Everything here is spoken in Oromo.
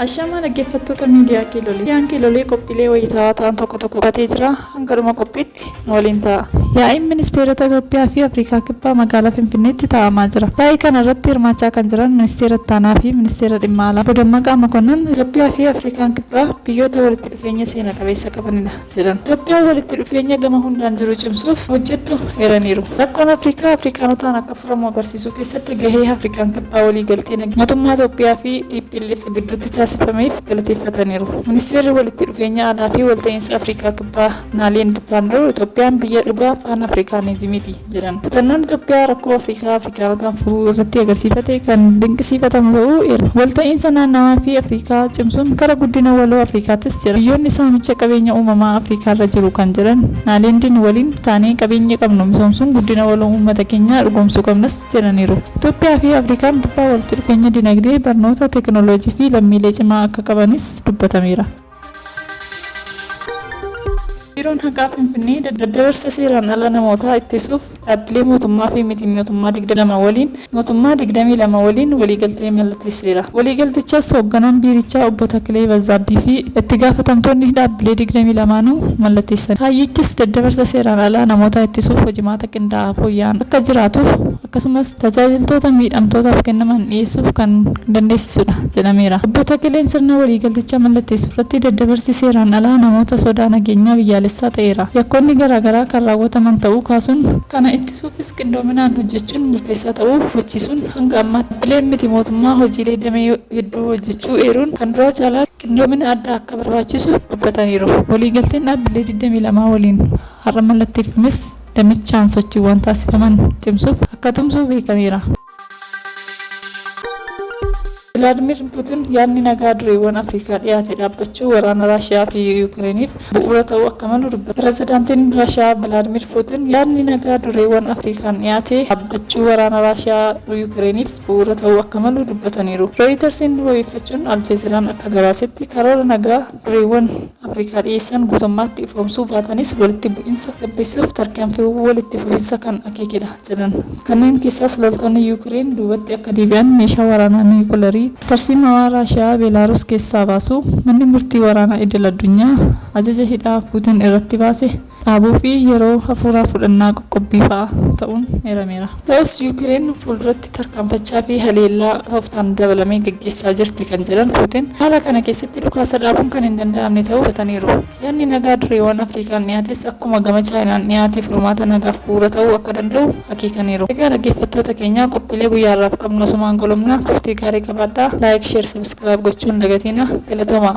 Ashaamaa dhaggeeffattoota miidiyaa Kiilolee. Miidiyaan Kiilolee qophiilee wayitaawaa ta'an tokko tokko qabatee jira. Hanga dhuma qophiitti nu waliin ta'a. Yaa'iin Ministeerota Itoophiyaa fi Afrikaa Kibbaa magaalaa Finfinneetti taa'amaa jira. Yaa'ii kana irratti hirmaachaa kan jiran Ministeera Ittaanaa fi Ministeera Dhimma Alaa Obbo Dammaqaa Mokonnon Itoophiyaa fi Afrikaan Kibbaa biyyoota walitti dhufeenya seena qabeessa qabanidha. jedhan Itoophiyaan walitti dhufeenya gama hundaan jiru cimsuuf hojjettu eeraniiru. Rakkoon Afrikaa Afrikaanotaan akka furamu agarsiisuu keessatti gahee Afrikaan Kibbaa waliigaltee nageenyaa mootummaa Itoophiyaa fi tplf gidduutti taasifameef galateeffataniiru. Ministeerri walitti dhufeenya alaa fi walta'iinsa Afrikaa Kibbaa Naaliind Vaannoor Itoophiyaan biyya dhugaa Paan Afrikaanizimiiti. jedhan. Kutannoon Itoophiyaa rakkoo Afrikaa Afrikaarra kan furuu irratti agarsiifate kan dinqisiifatamu ta'uu eeru. Walta'iinsa naannawaa fi Afrikaa cimsuun kara guddina waloo Afrikaattis jedhan. Biyyoonni saamicha qabeenya uumamaa Afrikaarra jiru kan jedhan Naaleendiin waliin taanee qabeenya qabnu misoomsuun guddina waloo uummata keenyaa dhugoomsuu qabnas jedhaniiru. Itoophiyaa fi Afrikaan dhibbaa walitti dhufeenya dinagdee, barnoota, teekinooloojii fi lammiilee cimaa akka qabanis dubbatameera. Biiroon Haqaa Finfinnee daddabarsa seeraan ala namootaa ittisuuf dhaabbilee mootummaa fi miti-miootummaa 22 waliin mootummaa 22 waliin waliigaltee mallatteesseera. Waliigaltichas Hoogganaan Biirichaa Obbo Takilee Bazzaabbii fi itti gaafatamtoonni dhaabbilee 22nuu mallatteessaniiru. Kaayyichis daddabarsa seeraan alaa namootaa ittisuuf hojimaata qindaa'aa fooyya'aan akka jiraatuuf, akkasumas tajaajiltoota miidhamtootaaf kennaman dhiyeessuuf kan dandeessisudha jedhameera. Obbo Takkeleen sirna waliigaltichaa mallatteessurratti daddabarsi seeraan alaa namoota sodaa nageenyaa biyyaalessaa ta'eera. Yakkoonni garaagaraa kan raawwataman ta'uu kaasuun, kana ittisuufis qindoominaan hojjechuun murteessaa ta'uu hubachiisuun hanga ammaatti dhaabbileen miti mootummaa hojiilee damee hedduu hojjechuu eeruun kan duraa caalaa qindoomina addaa akka barbaachisu dubbataniiru. Waliigalteen dhaabbilee 22 waliin har'a mallatteeffames, damichaan sochiiwwan taasifaman cimsuuf akka tumsu beekameera. Vilaadmiir Puutin yaadni nagaa dureewwan Afrikaa dhiyaate dhaabbachuu waraana Raashiyaa fi Yukireeniif bu'uura ta'uu akka malu dubbatan. Pirezidaantiin Raashiyaa Vilaadmiir Puutin yaadni nagaa dureewwan Afrikaan dhiyaate dhaabbachuu waraana Raashiyaa Yukireeniif bu'uura ta'uu akka malu dubbataniiru. Rooyitarsiin wabeeffachuun Aljeeziraan akka gabaasetti karoora nagaa dureewwan Afrikaa dhiyeessan guutummaatti ifoomsuu baatanis walitti bu'insa gabbeessuuf tarkaanfiiwwan walitti fufinsa kan akeekedha jedhan. Kanneen keessaas loltoonni Yuukireen duubatti akka deebi'an, meeshaa waraanaa niwukilarii tarsiimawaa Raashiyaa Beelaaruus keessaa baasuu, manni murtii waraanaa idil-addunyaa ajaja hidhaa Puutin irratti baase, dhaabuu fi yeroo hafuuraa fudhannaa qoqqobbii fa'a ta'uun eerameera. Ta'us Yuukireen fuulduratti tarkaanfachaa fi haleellaa tooftaan dabalame gaggeessaa jirti kan jedhan Puutin, haala kana keessatti dhukaasa dhaabuun kan hin danda'amne ta'uu dubbataniiru. Yaadni nagaa dureewwan Afrikaan dhiyaates akkuma gama Chaayinaan dhiyaate furmaata nagaaf bu'uura ta'uu akka danda'u akeekaniiru. Egaa dhaggeeffattoota keenya qophiilee guyyaa har'aaf qabnu asumaan goolabna. Turtii gaarii qabaadhaa. Like, Share, Subscribe gochuu hin dagatiina. Galatoomaa!